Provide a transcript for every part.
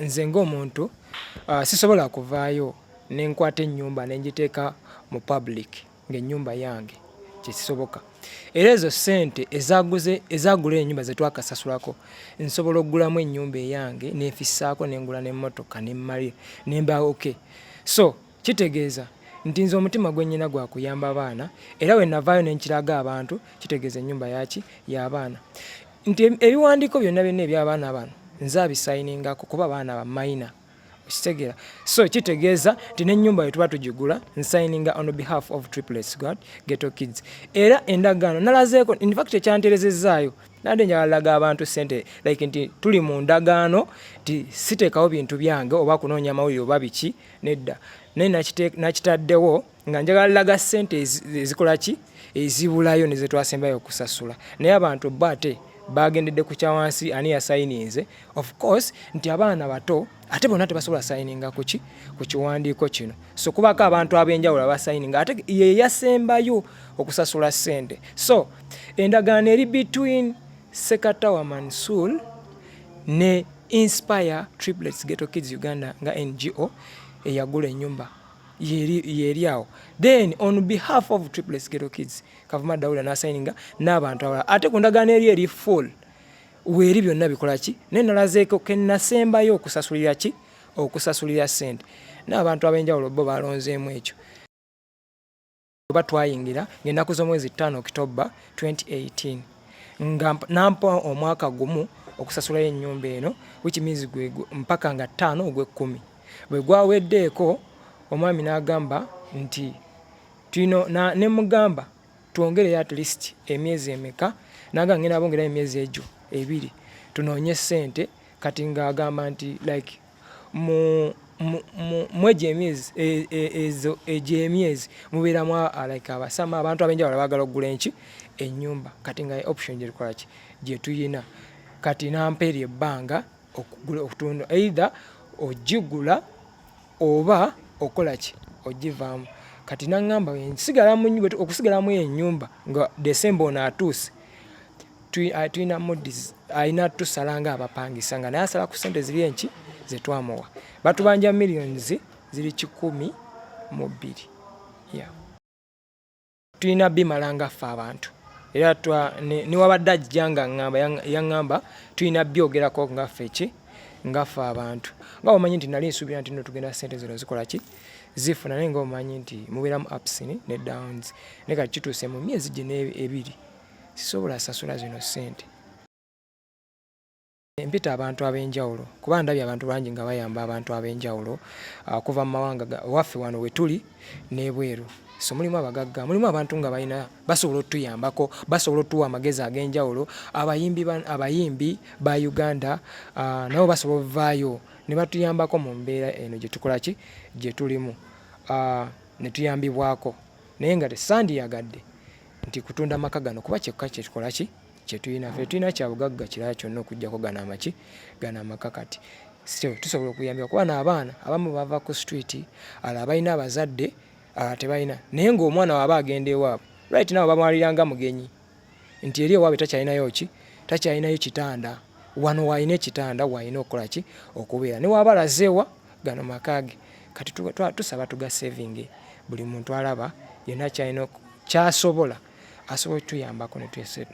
Nze ng'omuntu sisobola kuvaayo ne nkwata ennyumba ne ngiteeka mu public ng'ennyumba yange, tekisoboka. Era ezo ssente ezaaguze ezaagula ennyumba ze twakasasulako nsobola okugulamu ennyumba eyange ne nfissaako ne ngula n'emmotoka ne mmalira ne mba okay so Kitegeeza nti nze omutima gwe nnyina gwa kuyamba baana era we navaayo ne nkiraga abantu kitegeeza ennyumba yaki y'abaana nti ebiwandiiko byonna byonna eby'abaana bano nze abisayiningako kuba baana ba mayina okitegeera so kitegeeza nti n'ennyumba we tuba tugigula nsayininga on behalf of triplets god geto kids era endagaano nalazeeko infact ekyanterezezaayo nade njalaga abantu sente like nti tuli mu ndagaano nti siteekawo bintu byange oba kunoonya mawulire oba biki nedda naye nakitaddewo nga njagala laga sente ezikolaki ezibulayo nezetwasembayo okusasula naye abantu bo ate bagendedde ku kyawansi ani yasayininze of course nti abaana bato ate bonna tebasobola sayininga kuki ku kiwandiiko kino so kubako abantu ab'enjawulo abasayininga ate yeyasembayo okusasula sente so endagaano eri between sekatawa mansul ne Inspire Triplets Ghetto Kids Uganda nga NGO eyagula enyumba yeri awo then on behalf of Triplets Ghetto Kids Kavuma Daula nasayininga n'abantu abalala ate ku ndagaano eri eri full weeri byonna bikola ki naye nalazeeko kenasembayo okusasulira ki okusasulira sente n'abantu ab'enjawulo bo balonzeemu ekyo oba twayingira ng'ennaku z'omwezi ttaano okitobba 2018 nga nampa omwaka gumu okusasulayo ennyumba eno which means gwe mpaka nga ttaano ogw'ekkumi bwe gwaweddeeko omwami n'agamba nti tulina ne mugamba twongereyo at least emyezi emeka naga ngenda bongerayo emyezi egyo ebiri tunoonye ssente kati ng'agamba nti like mu mwegyo emyezi e, e, ezo egyo emyezi mubeeramu like abasama abantu abenjawulo baagala okugula enki enyumba kati nga option gyerikola ki gyetuyina kati nampa eryo ebbanga okugula okutunda either ogigula oba okola ki ogivaamu kati naŋŋamba okusigalamu enyumba nga desemba ono atuuse tulina moods alina tusala nga abapangisa nga naye asala ku sente ziri enki zetwamuwa batubanja millions ziri kikumi mu bbiri yeah. tulina bimala nga ffe abantu era newabadde ajja nga ŋamba yaŋamba tulina byogerako nga ffe ki nga ffe abantu nga omanyi nti nali nsuubira nti no tugenda sente zino zikola ki zifuna naye nga omanyi nti mubeeramu upsin ne downs naye kati kituuse mu myezi gino ebiri sisobola sasula zino ssente. Mpita abantu ab'enjawulo kuba ndabye abantu bangi nga bayamba abantu ab'enjawulo ah, okuva mu mawanga waffe wano we tuli n'ebweru. So mulimu abagagga, mulimu abantu nga balina basobola otuyambako, basobola otuwa amagezi ag'enjawulo. Abayimbi abayimbi ba Uganda ah, nabo basobola ovaayo ne batuyambako mu mbeera eno gye tukola ki gye tulimu ah, ne tuyambibwako naye nga tesandiyagadde nti kutunda amaka gano kuba kyekka kyetukola ki kyetulina fe tulina kyabugagga kirala kyonna okujjako gano amaki gano amaka kati so tusobola okuyambibwa kuba naabaana abamu bava ku street ala abalina abazadde ala tebalina naye ngaomwana waaba agenda ewaabwe right nawe bamwaliranga mugenyi nti eri ewaabwe takyalinayo ki takyalinayo kitanda wano waalina ekitanda waalina okukola ki okubeera ne waaba alazeewa gano maka ge kati tusaba tugasevinge buli muntu alaba yonna kyalina kyasobola asobola okutuyambako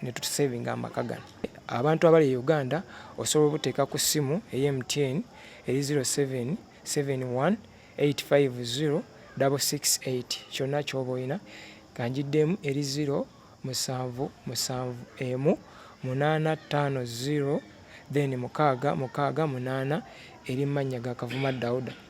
ne tutusevinga amaka gano abantu abali e uganda osobola obuteeka ku ssimu eye mtn eri 0771850668 kyonna kyoba olina kanjiddemu eri 0 musanvu musanvu emu munaana ttaano zero then mukaaga mukaaga munaana eri mannya ga Kavuma Dauda.